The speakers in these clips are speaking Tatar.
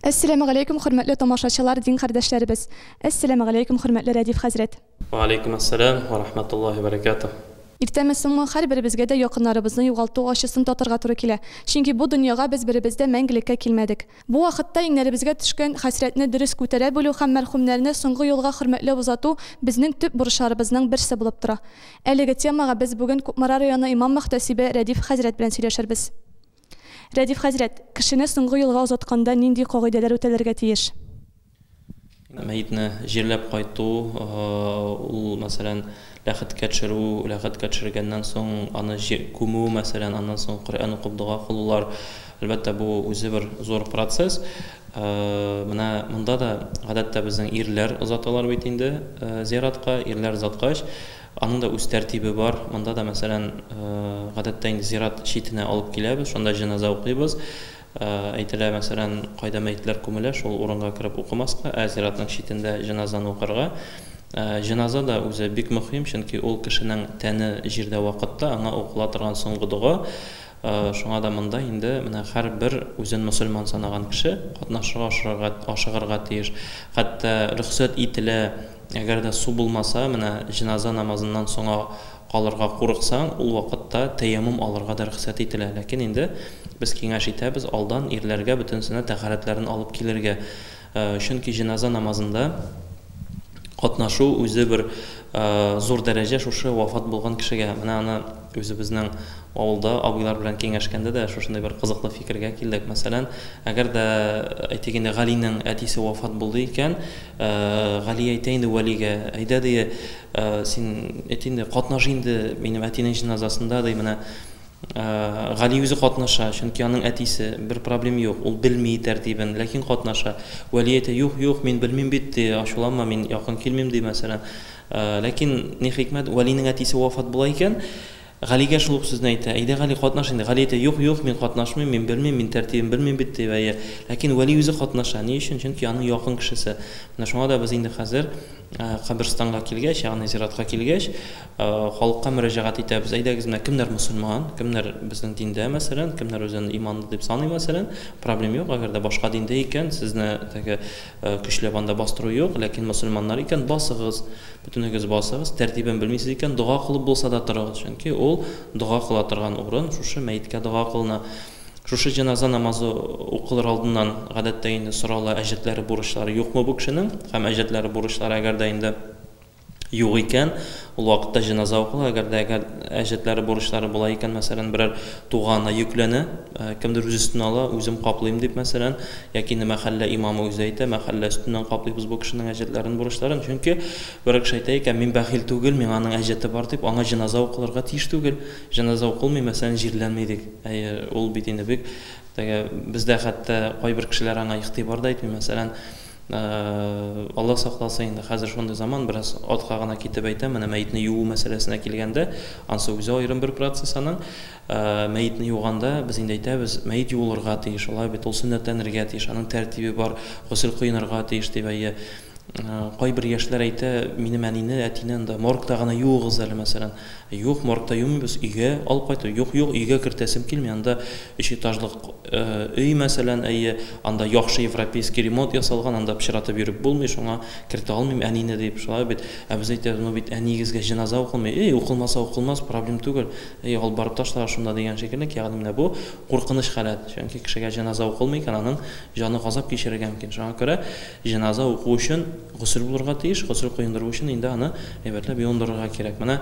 Әссәләмегаләйкүм хөрмәтле тамашачылар дин кардәшләребез! Әссәләмегаләйкүм хөрмәтле Рәдиф хәзрәт! Вәгаләйкүм әссәләм вә рахмәтуллаһи вә бәрәкәтүһ! Иртәме соңмы, һәрберебезгә дә якыннарыбызны югалту ачысын татырга туры килә. Чөнки бу дөньяга без беребез дә мәңгелеккә килмәдек. Бу вакытта иңнәребезгә төшкән хәсрәтне дөрес күтәрә белү һәм мәрхүмнәрне соңгы юлга хөрмәтләп озату безнең төп бурычларыбызның берсе булып тора. Әлеге темага без бүген Кукмара районы имам-мөхтәсибе Рәдиф хәзрәт белән сөйләшербез. Рәдиф хәзрәт, кешене соңгы юлга озатканда нинди кагыйдәләр үтәлергә тиеш? Мәетне җирләп кайту, ул, мәсәлән, ләхеткә төшерү, ләхеткә төшергәннән соң аны күмү, мәсәлән, аннан соң Коръән укып дога кылулар, әлбәттә, бу үзе бер зур процесс. Менә монда да, гадәттә, безнең ирләр озаталар бит инде зиратка, ирләр озаткач, Аның да үз тәртибе бар. Монда да, мәсәлән, гадәттә инде зират читенә алып киләбез, шунда җеназа укыйбыз. Әйтелә, мәсәлән, кайда мәетләр күмелә, шул урынга кереп укымаска, ә зиратның читендә җеназаны укырга. Җеназа да үзе бик мөхим, чөнки ул кешенең тәне җирдә вакытта аңа укыла торган соңгы дога. Шуңа да монда инде менә һәрбер үзен мөселман санаган кеше катнашырга ашырырга, ашыгырга тиеш. Хәтта рөхсәт ителә, әгәр дә су булмаса, менә җеназа намазыннан соңа калырга курыксаң, ул вакытта тәяммум алырга да рөхсәт ителә. Ләкин инде без киңәш итәбез алдан ирләргә бөтенесенә тәһарәтләрен алып килергә. Чөнки җеназа намазында катнашу үзе бер зур дәрәҗә шушы вафат булган кешегә. Менә аны үзебезнең авылда абыйлар белән киңәшкәндә дә шушындый бер кызыклы фикергә килдек. Мәсәлән, әгәр дә әйтик инде Галинең әтисе вафат булды икән, Гали әйтә инде Вәлигә, әйдә ди, син әйт инде, катнаш инде минем әтинең җеназасында ди, менә Гали үзе катнаша, чөнки аның әтисе. Бер проблем юк, ул белми тәртибен, ләкин катнаша. Вәли әйтә, Юк, юк, мин белмим бит, ди, ачуланма, мин якын килмим, ди, мәсәлән. Ләкин, ни хикмәт, Вәлинең әтисе вафат була икән, Галигә шул ук сүзне әйтә, Әйдә, Гали, катнаш инде. Гали әйтә, Юк, юк, мин катнашмыйм, мин белмим, мин тәртибен белмим бит, ди, әйе. Ләкин Вәли үзе катнаша. Ни өчен? Чөнки аның якын кешесе. Менә шуңа да без инде хәзер каберстанга килгәч, ягъни зиратка килгәч, Халыкка мөрәҗәгать итәбез, әйдәгез, менә кемнәр мөселман, кемнәр безнең диндә, мәсәлән, кемнәр үзен иманлы дип саный, мәсәлән, проблем юк, әгәр дә башка диндә икән, сезне теге көчләп анда бастыру юк, ләкин мөселманнар икән, басыгыз, бөтенегез басыгыз, тәртибен белмисез икән, дога кылып булса да торыгыз, чөнки ул дога кыла торган урын, шушы мәеткә дога кылына. Шушы җеназа намазы укылыр алдыннан, гадәттә инде сорала, әҗәтләре, бурычлары юкмы бу кешенең, һәм әҗәтләре, бурычлары, әгәр дә инде, юк икән, ул вакытта җеназа укыла, әгәр дә әгәр әҗәтләре, бурычлары була икән, мәсәлән, берәр туганы йөкләнә, кемдер үз өстенә ала, үзем каплыйм дип, мәсәлән, яки инде мәхәллә имамы үзе әйтә, мәхәллә өстеннән каплыйбыз бу кешенең әҗәтләрен, бурычларын, чөнки берәр кеше әйтә икән, мин бәхил түгел, миңа аның әҗәте бар дип, аңа җеназа укылырга тиеш түгел, җеназа укылмый, мәсәлән, җирләнми дик, әйе, ул бит инде бик теге, бездә хәтта кайбер кешеләр аңа игътибар да итми, мәсәлән, Алла сакласын инде, хәзер шундый заман, бераз артка гына китеп әйтәм, менә мәетне юу мәсьәләсенә килгәндә, ансы үзе аерым бер процесс аның. Мәетне юганда без инде әйтәбез, мәет юылырга тиеш, алай бит, ул сөннәтләнергә тиеш, аның тәртибе бар, госел коенырга тиеш дип әйе. Кайбер яшьләр әйтә, минем әнине, әтине анда моргта гына юыгыз әле, мәсәлән. Юк, мартта йомыйбыз, өйгә алып кайтып. Юк, юк, өйгә кертәсем килми, анда өч этажлык өй, мәсәлән, әйе, анда яхшы европейский ремонт ясалган, анда пычратып йөреп булмый, шуңа кертә алмыйм әнине, дип, шулай бит. Ә без әйтәбез, ну бит әниегезгә җеназа укылмый. Әй, укылмаса укылмас, проблем түгел. Әй, алып барып ташлагыз шунда, дигән шикеллек, ягъни менә бу куркыныч халәт. Чөнки кешегә җеназа укылмый икән, аның җаны газап кичерергә мөмкин. Шуңа күрә, Җеназа уку өчен госел булырга тиеш, госел коендыру өчен инде аны әйбәтләп юындырырга кирәк. Менә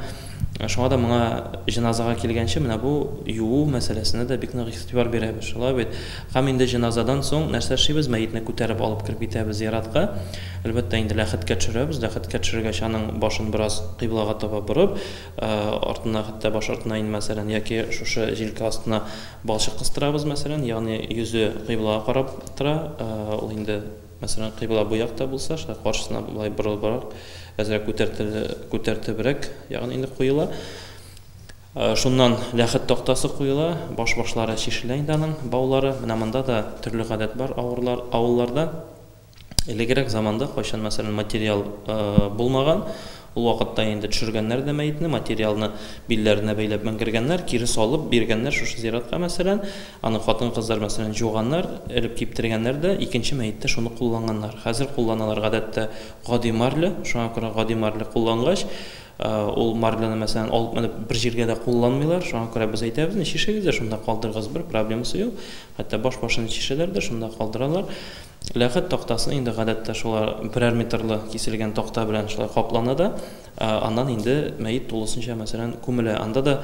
шуңа да моңа җеназага килгәнче менә бу юу мәсьәләсенә дә бик нык игътибар бирәбез, шулай бит? Һәм инде җеназадан соң нәрсә эшлибез? Мәетне күтәреп алып кереп китәбез зиратка. Әлбәттә, инде ләхеткә төшерәбез, ләхеткә төшергәч, аның башын бераз кыйблага таба борып, артына, хәтта баш артына инде мәсәлән, яки шушы җилкә астына Балчык кыстырабыз, мәсәлән, ягъни йөзе кыйблага карап тора. Ул инде, мәсәлән, кыйбла бу якта булса, шулай каршысына болай борылыбрак, әзрәк күтәртебрәк, ягъни инде куела. Шуннан ләхет тактасы куела, баш-башлары чишелә инде аның, баулары. Менә монда да төрле гадәт бар авырлар, авылларда. Элегрәк заманда, кайчан, мәсәлән, материал булмаган, ул вакытта инде төшергәннәр дә мәетне, материалны билләренә бәйләп менгергәннәр, кире салып биргәннәр шушы зиратка, мәсәлән. Аны хатын-кызлар, мәсәлән, җуганнар, элеп киптергәннәр дә, икенче мәеттә шуны кулланганнар. Хәзер кулланалар, гадәттә, гади марля, шуңа күрә гади марля куллангач, ул марляны, мәсәлән, алып менеп бер җиргә дә кулланмыйлар, шуңа күрә без әйтәбез, не чишегез дә шунда калдырыгыз, бер проблемасы юк, хәтта баш-башын чишәләр дә шунда калдыралар. Ләхет тактасы инде гадәттә шулай берәр метрлы киселгән такта белән шулай каплана да, аннан инде мәет тулысынча, мәсәлән, күмелә. Анда да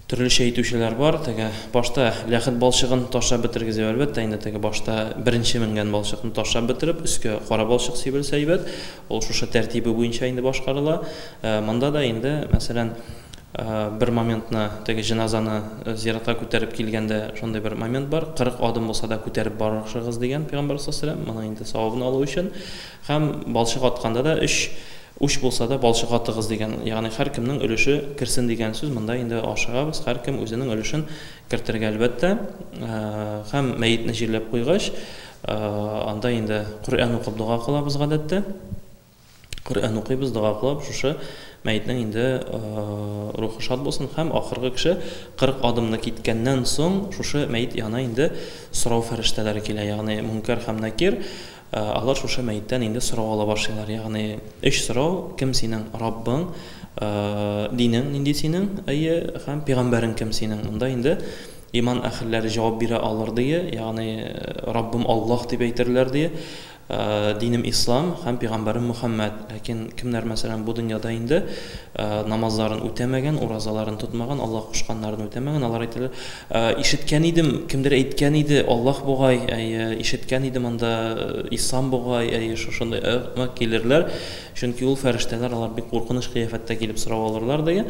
төрлечә итүчеләр бар. Теге башта ләхет балчыгын ташлап бетергезеп, әлбәттә, инде теге башта беренче менгән балчыкны ташлап бетереп, өскә кара балчык сибелсә әйбәт. Ул шушы тәртибе буенча инде башкарыла. Монда да инде, мәсәлән, бер моментны, теге җеназаны зиратка күтәреп килгәндә шундый бер момент бар, 40 адым булса да күтәреп барышыгыз дигән пәйгамбәр саллаллаһу моның инде савабын алу өчен. Һәм балчык атканда да өч уч булса да балчык атыгыз дигән, ягъни һәркемнең өлеше керсен дигән сүз. Монда инде ашыгабыз, һәркем үзенең өлешен кертергә, әлбәттә. Һәм мәетне җирләп куйгач, Анда инде Коръән укып дога кылабыз гадәттә. Коръән укыйбыз, дога кылып, шушы мәетнең инде рухы шат булсын һәм ахыргы кеше 40 адымны киткәннән соң шушы мәет яна инде сорау фәрештәләре килә, ягъни Мөнкәр һәм Накир, алар шушы мәеттән инде сорау ала башлыйлар, ягъни өч сорау, кем синең Раббың, динең нинди синең, әйе, һәм пигамбәрең кем синең? Монда инде Иман әһелләре җавап бирә алыр, дие, ягъни, Раббым Аллаһ дип әйтерләр, дие, динем Ислам һәм пигамбәрем Мөхәммәд. Ләкин кемнәр, мәсәлән, бу дөньяда инде намазларын үтәмәгән, уразаларын тотмаган, Аллаһ кушканнарын үтәмәгән, алар әйтәләр, Ишеткән идем, кемдер әйткән иде, Аллаһ бугай, әйе, ишеткән идем анда, Ислам бугай, әйе, шушындый ыгъмы килерләр, чөнки ул фәрештәләр, алар бик куркыныч кыяфәттә килеп сорау алырлар, дие.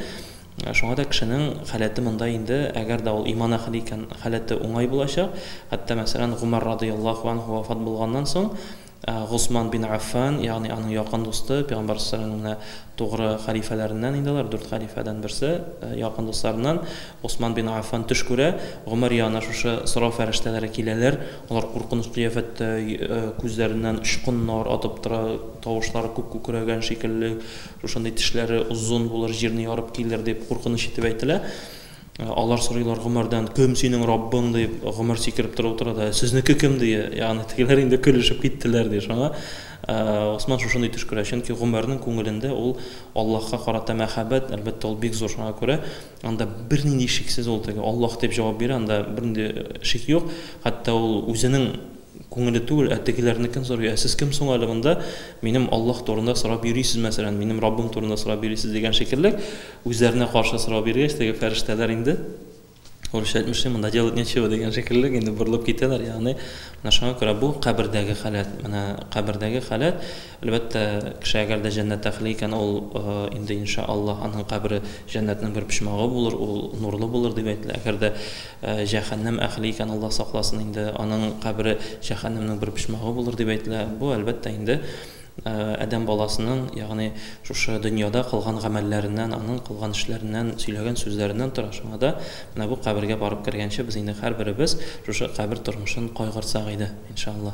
Шуңа да кешенең халәте монда инде, әгәр дә ул иман әхле икән, халәте уңай булачак. Хәтта, мәсәлән, Гомәр радыяллаһу анһу вафат булганнан соң, Госман бин Аффан, ягъни аның якын дусты, пәйгамбәр салләһу галәйһи ва сәлләмнең менә тугры халифәләреннән инде алар, дүрт халифәдән берсе, якын дусларыннан Госман бин Аффан төш күрә, Гомәр янына шушы сорау фәрештәләре киләләр, алар куркыныч кыяфәттә, күзләреннән очкыннар атып тора, тавышлары күк күкрәгән шикелле, Шушындый тешләре озын булыр, җирне ярып килер, дип куркыныч итеп әйтелә. Алар сорыйлар гомәрдән, Кем синең Раббың? дип, гомәр сикереп торып утыра да, Сезнеке кем? дия. Ягъни тегеләр инде көлешеп киттеләр, ди. Шуңа Госман шушындый төш күрә, чөнки гомәрнең күңелендә ул Аллаһка карата мәхәббәт, әлбәттә, ул бик зур, шуңа күрә анда бернинди шиксез ул теге Аллаһ дип җавап бирә, анда бернинди шик юк, хәтта ул үзенең Күңеле түгел, ә тегеләрнекен сорый, ә сез кем соң әле монда, минем Аллаһ турында сорап йөрисез, мәсәлән, минем Раббым турында сорап йөрисез, дигән шикелле, үзләренә каршы сорау биргәч, теге фәрештәләр инде, урысча әйтмешли, монда делать нечего, дигән шикелле, инде борылып китәләр, ягъни, менә шуңа күрә бу кабердәге халәт, менә кабердәге халәт, Әлбәттә, кеше әгәр дә җәннәт әхле икән, ул инде, инша Аллаһ, аның кабере җәннәтнең бер почмагы булыр, ул нурлы булыр, дип әйтелә. Әгәр дә җәһәннәм әхле икән, Аллаһ сакласын, инде аның кабере җәһәннәмнең бер почмагы булыр, дип әйтелә. Бу, әлбәттә, инде адәм баласының, ягъни шушы дөньяда кылган гамәлләреннән, аның кылган эшләреннән, сөйләгән сүзләреннән тора. Шуңа да менә бу кабергә барып кергәнче без инде һәрберебез шушы кабер тормышын кайгыртсак иде, инша Аллаһ.